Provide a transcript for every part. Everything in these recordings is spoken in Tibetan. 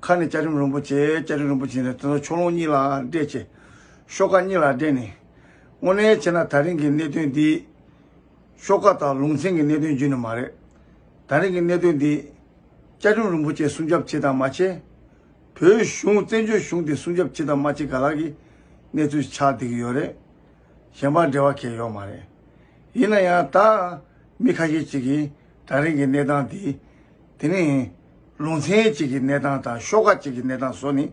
ཁ་ནས་སྐྱ་རིམ་རིན་པོ་ཆེ་སྐྱ་རིམ་རིན་པོ་ཆེ་ནས་དེ་ཚོ་ཕྱོགས་ལྷུང་གཉིས་ལ་སྦྲེལ་ཆེ། ཤོག་ཁ་གཉིས་ལ་སྦྲེལ་ནས། དངོས་གནས་བྱས་ན་ད་རིང་གི་གནད་དོན་འདི། ཤོག་ཁ་དང་ལུང་ཚན་གྱི་གནད་དོན་བརྒྱུད་ནས་མ་རེད། ད་རིང་གི་གནད་དོན་འདི། སྐྱ་རིམ་རིན་པོ་ཆེ་སྲུང་སྐྱོབ་བྱེད་དང་མ་བྱེད། བོད་གཞུང་བཙན་བྱོལ་གཞུང་དེ་སྲུང་སྐྱོབ་བྱེད་དང་མ་བྱེད་ག་ལ་གི་གནས་ཚུལ་ཆགས་བསྡད་ཀྱི་ཡོད་རེད། གཞན་པ་འབྲེལ་བ་ཁེལ་ཡོད་མ་རེད། ཡིན་ན་ཡང་ད། མི་ཁ་ཤས་ཅིག་གིས་ད་རིང་གི་གནས་སྟངས་འདི། དེ་ནི། ལུང་ཚན་གཅིག་གི་གནས་སྟངས་དང་ཤོག་ཁག་གཅིག་གི་གནས་སྟངས་སོགས་ནི།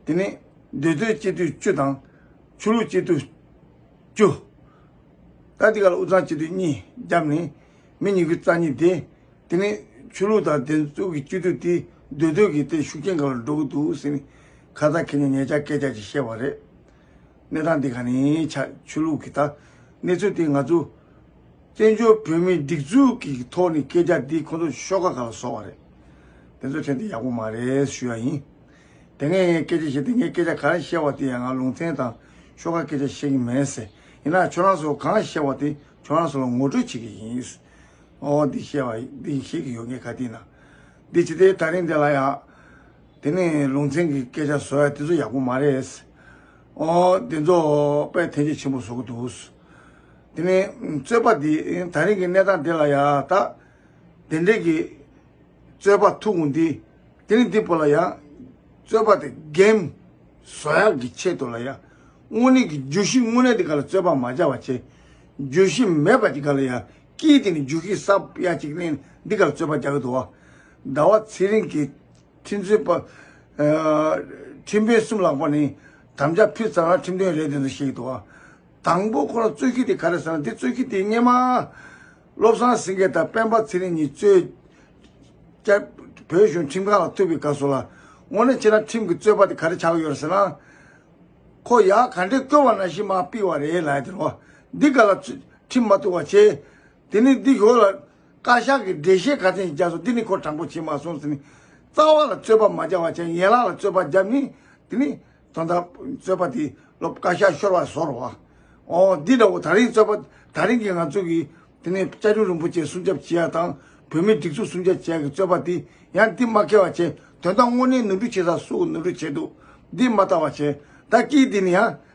དེ་ནི་འདོད་རྩོད་སྤྱི་འཐུས་བཅུ་དང། ཆོས་ལུགས་སྤྱི་འཐུས་བཅུ། ད་ལྟའི་ཁར་དབུས་གཙང་སྤྱི་འཐུས་གཉིས་བརྒྱབ་ནས་མི་ཉིས་ཀྱི་རྩ་གཉིས་དེ། དེ་ནི་ཆོས་ལུགས་དང་བདེན་གཙུག་གི་སྤྱི་འཐུས་དེ་འདོད་རྩོད་ཀྱི་སྟེང་ཤུགས་རྐྱེན་འགའ་ལ་འགྲོ་གི་འདུག་ཟེར་ནས་ཁ་ཚ་ཁེལ་ནས་ངེད་ཅག་སྐད་ཆ་གཅིག་བཤད་པ་རེད། གནས་སྟངས་འདི་ག་ནས་ཆགས་ཆོས་ལུགས་ཀྱི་ད་གནས་ཚུལ་དེ་ང་ཚོ་བཙན་བྱོལ་བོད་མིའི་སྒྲིག་འཛུགས་ཀྱི་ཐོག་ནས་སྐད་ཆ་འདི་ཁོང་ཚོ་ཤོག་ཁག་ག་ལ་བཟོ་བ་རེད་དེ་ཚོ་དྲན་དེ་ཡག་པོ་མ་རེད་ཞུ་ཡ་ཡིན། དེ་སྔའི་ངས་སྐད་ཆ་བཤད་དེ་ངས་སྐད་ཆ་ག་རེ་བཤད་བ་དེ་ཡང་ང་ལུང་ཚན་དང་ཤོག་ཁག་སྐད་ཆ་བཤད་ཀྱི་མེད་ཟེར་ཡིན་ན་ཁྱོད་རང་ཚོ་གང་བཤད་བ་དེ་ཁྱོད་རང་ཚོ་ལ་ངོ་སྤྲོད་བྱེད་ཀྱི་ཡིན་འོ་འོ་འདི་བཤད་བ་འདི་བཤད་ཀྱི་ཡོད་ངས་ག་དེ་ན་འདི་ཇི་ལྟའི་ཐག་རིང་དེ་ལ་ཡང། དེ་ནས་ལུང་ཚན་གྱི་སྐད་ཆ་ཟོ་ཡ་དེ་ཚོ་ཡག་པོ་མ་རེད། ཨོ། དེ་ཚོ་དཔལ་ཐེན་ཅེ་ཆེན་པོ་བཟོ་གི་འདུག། དེ་ནས་རྩོད་པ་འདི་ད་རིང་གི་གནས་སྟངས་འདི་ལ་ཡང་དག་དེ་འདྲས་ཀྱི་རྩོད་པ་ཐུག་གི་འདུག་དེ་ནས་འདི་ཕོ་ལ་ཡང་རྩོད་པ་དེ་གེམ་བཟོ་ཡག་གི་ཆེད་དུ་ལ་ཡང་དངོས་གནས་ཀྱི་རྒྱུ་གཞི་དངོས་གནས་དེ་ག་ལ་རྩོད་པ་མ་བྱ་བ་ཆེ། རྒྱུ་གཞི་མེད་པ་དེ་ག་ལ་ཡང་ཀྱིས་དེ་ནས་རྒྱུ་གཞི་གསབ་ཡ་ཅིག་གནས་འདི་ག་ལ་རྩོད་པ་རྒྱག་གི་འདུག་བ། ཟླ་བ་ཚེ་རིང་གི་ཁྲིམས་རྩོད་པ། ཁྲིམས་དཔོན་གསུམ་ལགས་པ་ནི་དམ་བཅའ་ཕུལ་ཙང་རང་ཁྲིམས་དཔོན་རེད་འདོད་འདོད་བཤད་ཀྱི་འདུག་ཨ། དང་པོ་ཁོ་རང་རྩོད་ཁི་དེ་ག་རེ་ཟེར་ན་དེ་རྩོད་ཁི་དེ་སྙེ་མ། བློ་བཟང་སེང་གེ་དང་སྤེན་པ་ཚེ་རིང་གཉིས་རྩོད། སྐྱར། བོད་གཞུང་ཁྲིམས་ཁང་ལ་ཐུག་པའི་སྐབས་སུ་ལ། དངོས་གནས་ཁྱེད་རང་ཁྲིམས་ཀྱི་རྩོད་པ་དེ་ག་རེ་བྱ་གི་ཡོད་རེད་ཟེར་ན། ཁོ་ཡག་ག་འདྲའི་སྐྱོ་བ་ན་བཞིན་མ་སྤི་བ་རེད་ལ་ཡ་དེ་རོ། འདི་ག་ལ། ཁྲིམས་མ་ཐུག་བ་ཆེ། དེ་ནས་འདི་གོ་ལ། བཀའ་ཤག་གི་འགྲེལ་བཤད་ག་ཚད་ཡིན་བརྒྱ་སོང་དེ་ནི་ཁོ་དྲང་པོ་བྱས་མ་སོང་ཟེར་ནས། རྩ་བ་ལ་རྩོད་པ་མ་བྱ་བར་བྱས་ཡན་ལག་ལ་རྩོད་པ་བརྒྱབ་ནས་དེ་ནི། དོན་དག་རྩོད་པ་དེ་ལོ་བཀའ་ཤག་ཤོར་བ་བཟོ་རོགས། ཨོ། འདི་འདྲ་བོ་ད་རིང་རྩོད་པ་ད་རིང་གི་ང་ཚོ་གིས་དེ་ནི་བཅའ་ཁྲིམས་རིན་པོ་ཆེ་སྲུང་སྐྱབས་བྱེད་ཡ་དང་བོད་མིའི་སྒྲིག་འཛུགས་སྲུང་སྐྱབས་བྱེད་ཡ་གི་རྩོད་པ་དེ་ཡང་འདི་མ་ཁེལ་བ་བྱས་དོན་དག་དངོས་གནས་ནོར་འཁྲུལ་བྱེད་ས་སུ་ནོར་འཁྲུལ་བྱས་འདུག་འདི་མ་ལྟ་བ་བྱས་ད་ཀིས་དེ་ནི་ཡང་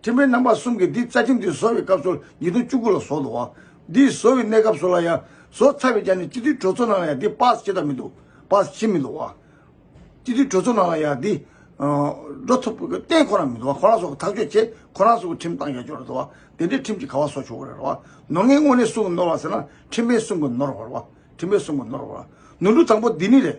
ཁྲིམས་དཔོན་རྣམ་པ་གསུམ་གྱིས་འདིས་རྩ་ཁྲིམས་དེ་བཟོ་བའི་སྐབས་སོར་ཉིས་སྟོང་བཅུ་དགུ་ལ་བཟོ་འདུག་བ། འདིས་བཟོ་བའི་གནས་སྐབས་སོར་ལ་ཡང་བཟོ་ཚར་བས་ཀྱང་ནི་སྤྱི་འཐུས་གྲོས་ཚོགས་ནང་ལ་ཡང་འདི་པཱ་སི་བྱེད་ཐབས་མི་འདུག་པཱ་སི་བྱེད་མི་འདུག་བ། སྤྱི་འཐུས་གྲོས་ཚོགས་ནང་ལ་ཡང་འདི། འགྲོ་ཐུབ་གཏན་ཁོ་ན་མི་འདུག་བ་ཁོ་རང་སོགས་ཐག་གཅོད་བྱེད་ཁོ་རང་སོགས་ཀྱི་ཁྲིམས་བཏང་ཡག་ཆོག་རེད་འདུག་བ། དེ་འདྲའི་ཁྲིམས་ཀྱི་ག་བ་བཟོ་ཆོག་གི་རེད་བ། ནོར་ངན་དངོས་གནས་སུ་གི་ནོར་བ་ཟེར་ན་ཁྲིམས་དཔོན་གསུམ་གྱི་ནོར་བ་རེད་བ། ཁྲིམས་དཔོན་གསུམ་གྱི་ནོར་བ་རེད་བ། ནོར་འཁྲུལ་དང་པོ་འདི་ནི་རེད།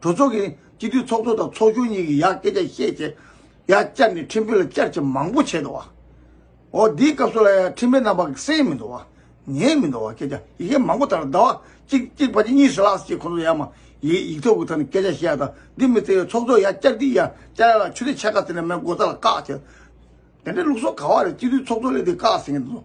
གྲོས་ཚོགས་ཀྱིས་སྤྱི་འཐུས་ཚོགས་གཙོ་དང་ཚོགས་གཞོན་གཉིས་ཀྱི་ཡག་སྐད་ཆ་བཤད་ཆེད་ཡ་བསྐྱར་ནས་ཁྲིམས་དཔེ་ལ་བསྐྱར་ཆེད་མང་པོ་བྱས་འདུག་བ། འོ་འདིའི་སྐབས་སུ་ལ་ཡང་ཁྲིམས་དཔེ་རྣམ་པ་གསན་མི་འདུག་བ། ཉན་མི་འདུག་བ་སྐད་ཆ་ཡི་གེ་མང་པོ་དར་ཟླ་བ་གཅིག་གཅིག་ཕ་གཅིག་གཉིས་སུ་ལགས་ཞེས་ཁོང་ཚོ་ཡ་མ་ཡིག་ཡིག་ཐོག་གི་ཐོག་ནས་སྐད་ཆ་བཤད་ཡ་དང་འདི་མི་བརྩི་བའི་ཚོགས་གཙོ་ཡ་བསྐྱར་འདི་ཡ་བསྐྱར་ཡ་ལ་ཆུ་ལེ་ཆད་ཁ་ཟེར་ནས་མའི་མགོ་རྩ་ལ་བཀག་བྱས། དེ་འདྲའི་ལུགས་སྲོལ་ག་བ་རེད་སྤྱི་འཐུས་ཚོགས་གཙོ་ལས་འདི་བཀག་ཟེར་གྱི་འདུག།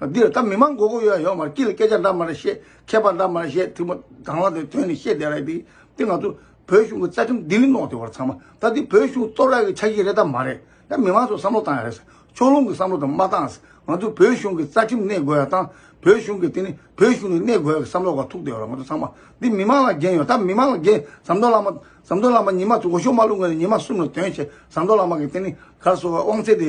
འདིར་ད་མི་མང་མགོ་སྐོར་ཡོད་ཡ་ཡོད་མ་རེད་ཅི་ལ་སྐད་ཆ་འདྲ་མ་རེད་བཤད་མཁས་པ་འདྲ་མ་རེད་བཤད་དུས་མ་འདང་ལ་དོན་ནི་བཤད་བསྡད་ར་ཡི་དེ་ང་ཚོ་བོད་གཞུང་གི་རྩ་ཁྲིམས་ལྡི་ལི་ནོག་དེ་བར་ཚང་མ་ད་འདི་བོད་གཞུང་གཙོ་བྲག་གི་ཆ་ཤས་རེད་ད་མ་རེད་ད་མི་མང་ཚོ་བསམ་བློ་བཏང་ཡ་རེད་ཕྱོགས་ལྷུང་གི་བསམ་བློ་དང་མ་བཏང་ང་ཚོ་བོད་གཞུང་གི་རྩ་ཁྲིམས་གནས་དགོས་ཡ་དང་བོད་གཞུང་གི་དེ་ནི་བོད་གཞུང་ནས་གནས་དགོས་ཡ་གི་བསམ་བློ་བ་ཐུག་བསྡད་ཡོད་ར་ང་ཚོ་ཚང་མ་འདི་མི་མང་ལ་འགན་ཡོད་ད་མི་མང་ལ་འགན་ཟམ་གདོང་བླ་མ་ཟམ་གདོང་བླ་མ་ཉི་མ་ཚོ་འོ་ཞོ་མ་བླུག་ངོས་ནས་ཉི་མ་གསུམ་ལ་དོན་བྱས་ཟམ་གདོང་བླ་མ་གི་དེ་ནི་གར་སོ་བའི་དབང་ཚད་དེ།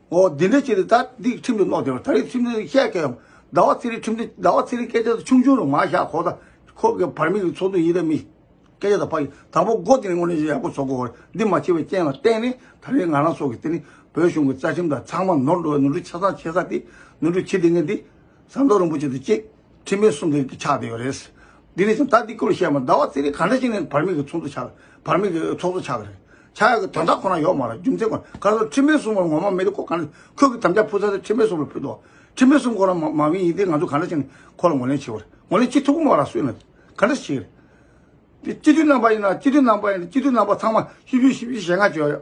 འོ་འདི་འདྲའི་ཆེད་དུ་ད་འདི་ཁྲིམས་དུ་བསློགས་བསྡད་པ་ད་རེས་ཁྲིམས་དུ་བཤད་མཁན་ཡང་ཟླ་བ་ཚེ་རིང་ཁྲིམས་དུ་ཟླ་བ་ཚེ་རིང་སྐད་ཆ་ཆུང་ཆུང་རུ་མ་བཞག་ཁོ་ད་ཁོ་གི་བར་མིག་གི་ཚོགས་འདུ་ཡིན་རེད་མི། སྐད་ཆ་དང་ཕ་ཡིན་དང་པོ་མགོ་དེ་ནས་སྔོན་ནས་ཡག་པོ་ཟོ་དགོས་བར་འདི་མ་བྱས་པའི་རྐྱེན་ལ་བརྟེན་ནས་ད་རེས་ང་རང་སོགས་ཀྱི་དེ་ནི་བོད་གཞུང་གི་རྩ་ཁྲིམས་དང་ཚང་མ་ནོར་འགྲོ་བའི་ནོར་འཁྲུལ་ཆ་ཚང་བྱས་ས་དེ་ནོར་འཁྲུལ་ཆེ་ལྡེ་ངན་འདི་ཟམ་གདོང་རིན་པོ་ཆེ་དང་བཅས། ཁྲིམས་མེད་གསུང་མཁན་གྱི་ཆགས་བསྡད་ཡོད་རེད། འདི་ནས་བཟུང་ད་ལྟའི་སྐོར་བཤད་མ་ཟླ་བ་རྩེ་རིང་ག་འདྲ་ཞིག་ནས་བར་མིག་གི་ཚོགས་འདུ་ཆགས་བར་མིག་གི་ཚོགས་གཙོ་ཆགས་ཀྱི་རེད། ཆགས་ཡག་གི་དོན་དག་ཁོ་ན་ཡོད་མ་རེད་རྒྱུ་མཚན་ཁོ་ན་ག་སོང་ཁྲིམས་མེད་གསུང་བར་ངོ་མ་མེད་དུ་ཁོ་ག་འདྲ་ཁྱོད་ཀྱི་དམ་བཅའ་ཕུལ་ས་དེ་ཁྲིམས་མེད་གསུང་བར་ཕུལ་ཏོ། ཁྲིམས་མེད་གསུང་ཁོ་ན་མ་མིན་ཡིན་ཏེ་ང་ཚོ་ག་འདྲ་ཞིག་ནས་ཁོ་ལ་ངོ་ལེན་བྱེད་པ་རེད་ངོ་ལེན་བྱེད་ཐུབ་མ་ར་སུས་ན་ག་འདྲ་ཞིག་རེད། དེ་སྤྱི་འཐུས་རྣམ་པ་ཡིན་ན་སྤྱི་འཐུས་རྣམ་པ་ཡིན་ན་སྤྱི་འཐུས་རྣམ་པ་ཚང་མ་བཅུ་བཅུ་བཞི་བཞི་ཞེ་ལྔ་བཅོལ།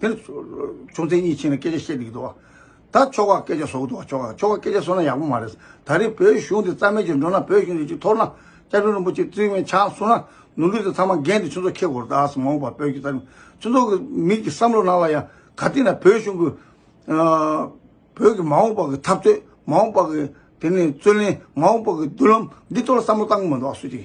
དེར་ཆུང་ཚེ་གཉིས་ཕྱིན་ནས་སྐད་ཆ་བཤད་འདུག་གདའ། ད་ཁྱོ་ག་སྐད་ཆ་བཟོ་གི་འདུག་ཁྱོ་ག་ཁྱོ་ག་སྐད་ཆ་བཟོ་ན་ཡག་པོ་མ་རེད། ད་རེས་བོད་གཞུང་འདི་རྩ་མེད་ཅིག་འགྲོ་ན་བོད་གཞུང་འདི་ཅིག་འཐོར་ན། བཅའ་ཁྲིམས་རིན་པོ་ཆེ་བརྩི་མེད་ཆགས་སོང་ན། ནོར་འཁྲུལ་དེ་ཚང་མ་འགན་དེ་ཆུ་ཚོགས་ཁྱེད་སྒོར་གདའ་སོང་མ་འོངས་པར་བོད་ཀྱི་རྩ་ཁྲིམས། ཆུ་ཚོགས་ཀྱི་མིག་གི་བསམ་བློ་ནང་ལ་ཡང་ག་དུས་ན་བོད་གཞུང་གི། བོད་ཀྱི་མ་འོངས་པ་གི་འཐབ་རྩོད་མ་འོངས་པ་གི་དེ་ནས་རྩོད་ལེན་མ་འོངས་པ་གི་མདུན་ལམ་འདི་ཐོག་ལ་བསམ་བློ་གཏང་གི་མི་འདུག་སུ་གཅིག་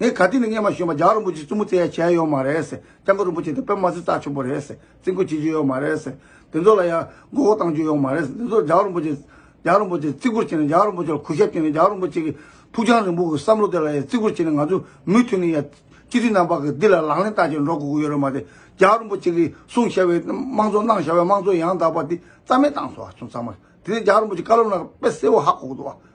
ངས་ག་དུས་ནས་སྙན་མ་ཞུས་མ་རྒྱ་རིན་པོ་ཆེ་བཙུན་མོ་བཙལ་ཡ་བྱས་ཡོད་མ་རེད། སྐྱབས་མགོན་རིན་པོ་ཆེ་དང་པད་མ་སྲིན་རྩ་ཆེན་པོ་རེད། བརྩི་འགོ་བྱེད་རྒྱུ་ཡོད་མ་རེད། དེ་ཚོ་ལ་ཡང་མགོ་བོ་གཏང་རྒྱུ་ཡོད་མ་རེད། དེ་ཚོ་རྒྱ་རིན་པོ་ཆེ། རྒྱ་རིན་པོ་ཆེ་བརྩི་བཀུར་བྱེད་ནས་རྒྱ་རིན་པོ་ཆེ་ལ་གུས་ཞབས་བྱེད་ནས་རྒྱ་རིན་པོ་ཆེ་གི་ཕུགས་རྒྱང་རིང་པོ་གི་བསམ་བློ་དེ་ལ་ཡང་བརྩི་བཀུར་བྱེད་ནས་ང་ཚོས་མུས་མཐུད་ནས་ཡང་སྤྱི་འཐུས་རྣམ་པ་གི་འདི་ལ་ལག་ལེན་བསྟར་བྱེད་འགྲོ་དགོས་ཀྱི་ཡོད་རེད་མ་དེ། རྒྱ་རིན་པོ་ཆེ་གི་གསུངས་བཞག་པའི་དམངས་གཙོ་གནང་བཞག་པའི་དམངས་གཙོ་ཡང་དག་པ་འདི་རྩ་མེད་བཏང་སོང་བ་ཚང་མ་རེད། དེ་ནས་རྒྱ་རིན་པོ་ཆེ་བཀའ་སློབ་གནང་སྐབས་དཔེ་གསལ་བོ་ཧ་གོ་དགོས་འདུག་བ།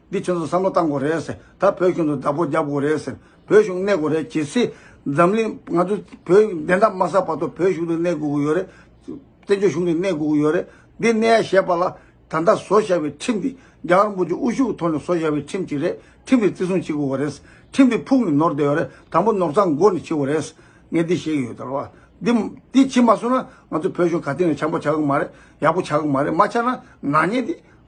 འདི་ཁྱོད་ཚོ་བསམ་བློ་བཏང་དགོས་རེད་ཟེར་ད་བོད་ཁྱོད་ཚོ་བདག་པོ་རྒྱབ་དགོས་རེད་ཟེར་བོད་གཞུང་གནས་དགོས་རེད་གལ་སྲིད་འཛམ་གླིང་ང་ཚོ་བོད་བདེན་མཐའ་མ་གསལ་བར་དུ་བོད་གཞུང་དུ་གནས་དགོས་ཀྱི་ཡོད་རེད་བཙན་བྱོལ་གཞུང་དུ་གནས་དགོས་ཀྱི་ཡོད་རེད་འདི་གནས་ཡ་ཞེས་པ་ལ་ད་ལྟ་བཟོ་བཞག་པའི་ཁྲིམས་འདི་རྒྱ་གར་འབོད་ཀྱི་དབུ་བཞུགས་ཐོག་ནས་བཟོ་བཞག་པའི་ཁྲིམས་གཅིག་རེད་ཁྲིམས་འདི་བརྩི་སྲུང་བྱེད་དགོས་པ་རེད་ཁྲིམས་འདི་ཕུགས་ནས་ནོར་བསྡད་ཡོད་རེད་དང་པོ་ནོར་ཚང་མགོ་ནས་འཁྱེར་དགོས་རེད་ངས་འདི་བཤད་ཀྱི་ཡོད་ད་ལོ་འདི་འདི་བྱེད་མ་སོང་ན་ང་ཚོ་བོད་གཞུང་ག་དེང་ནས་བྱམས་པོ་བྱ་གི་མ་རེད་ཡག་པོ་བྱ་གི་མ་རེད་མ་བྱ་ན་ནག་ཉེས་འདི་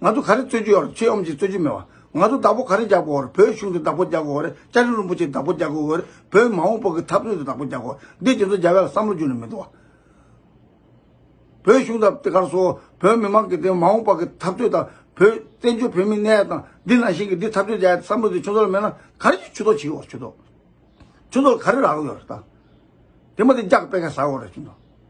ང་ཚོ་ག་རེ་རྩོད་རྒྱུ་ཡོད་རེད་ཁྱེད་ཡོམ་གྱིས་རྩོད་རྒྱུ་མེད་བ། ང་ཚོ་བདག་པོ་ག་རེ་རྒྱག་དགོས་རེད་བོད་གཞུང་དེ་བདག་པོ་རྒྱག་དགོས་རེད་ལྕགས་རི་རིན་པོ་ཆེ་བདག་པོ་རྒྱག་དགོས་རེད་བོད་མ་འོངས་པོ་གི་འཐབ་རྩོད་དེ་བདག་པོ་རྒྱག་དགོས་རེད་འདི་དེ་ཚོ་རྒྱ་བལ་ལ་བསམ་བློ་རྒྱུ་ནི་མི་འདུག་བ། བོད་གཞུང་དང་དེ་གར་སོ་བོད་མི་མང་གི་དེ་མ་འོངས་པ་གི་འཐབ་རྩོད་དང་བོད་བཙན་བྱོལ་བོད་མི་གནས་ཡ་དང་འདི་ནང་བཞིན་གི་འདི་འཐབ་རྩོད་རྒྱ་ཡ་བསམ་བློ་དེ་ཁྱོད་ཚོ་ལ་མེད་ན་ག་རེ་ཆུ་ཐོག་བྱེད་དགོས་ཆུ་ཐོག་ཆུ་ཐོག་ག་རེ་རག་ཡོད་རེད་ད། དེ་མ་དེ་རྒྱག་སྤེལ་མཁན་ཟ་འོག་རེད་ཆུ་ཐོག།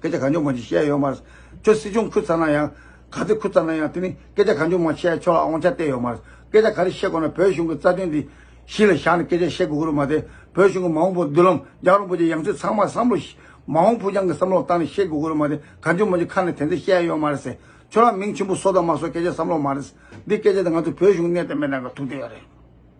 སྐད་ཆ་གང་བྱུང་ཁོང་གིས་བཤད་ཡོད་མ་རེད། ཁྱོད་སྲིད་སྐྱོང་ཁུར་ཚར་ན་ཡང། ག་ཚོད་ཁུར་ཚར་ན་ཡང་དེ་ནི་སྐད་ཆ་གང་བྱུང་མ་བཤད་ཆོག་ལ་ཨོང་ཆ་བསྟད་ཡོད་མ་རེད། སྐད་ཆ་ག་རེ་བཤད་དགོས་ན་བོད་གཞུང་གི་རྩ་དོན་འདི་གཞི་ལ་བཞག་ནས་སྐད་ཆ་བཤད་དགོས་ཀྱི་རུ་མ་དེ་བོད་གཞུང་གི་མ་འོངས་པོ་མདུན་ལམ་རྒྱག་རུང་པོ་ཆེ་ཡང་ཚུལ་ཚང་མ་བསམ་བློ། མ་འོངས་ཕུགས་རྒྱང་གི་བསམ་བློ་བཏང་ནས་བཤད་དགོས་ཀྱི་རུ་མ་དེ་གང་བྱུང་མ་བྱུང་ཁ་ནས་དེ་འདྲ་བཤད་ཡོད་མ་རེད། ཁྱོད་རང་མིང་ཆེན་པོ་བཟོ་དང་མ་བཟོ་སྐད་ཆ་བསམ་བློ་མ་རེད། འདི་སྐད་ཆ་དེ་ང་ཚོ་བོད་གཞུང་གནས་སྟངས་མེད་ན་འགའ་ཐུག་བསྡད་ཡོད་རེད།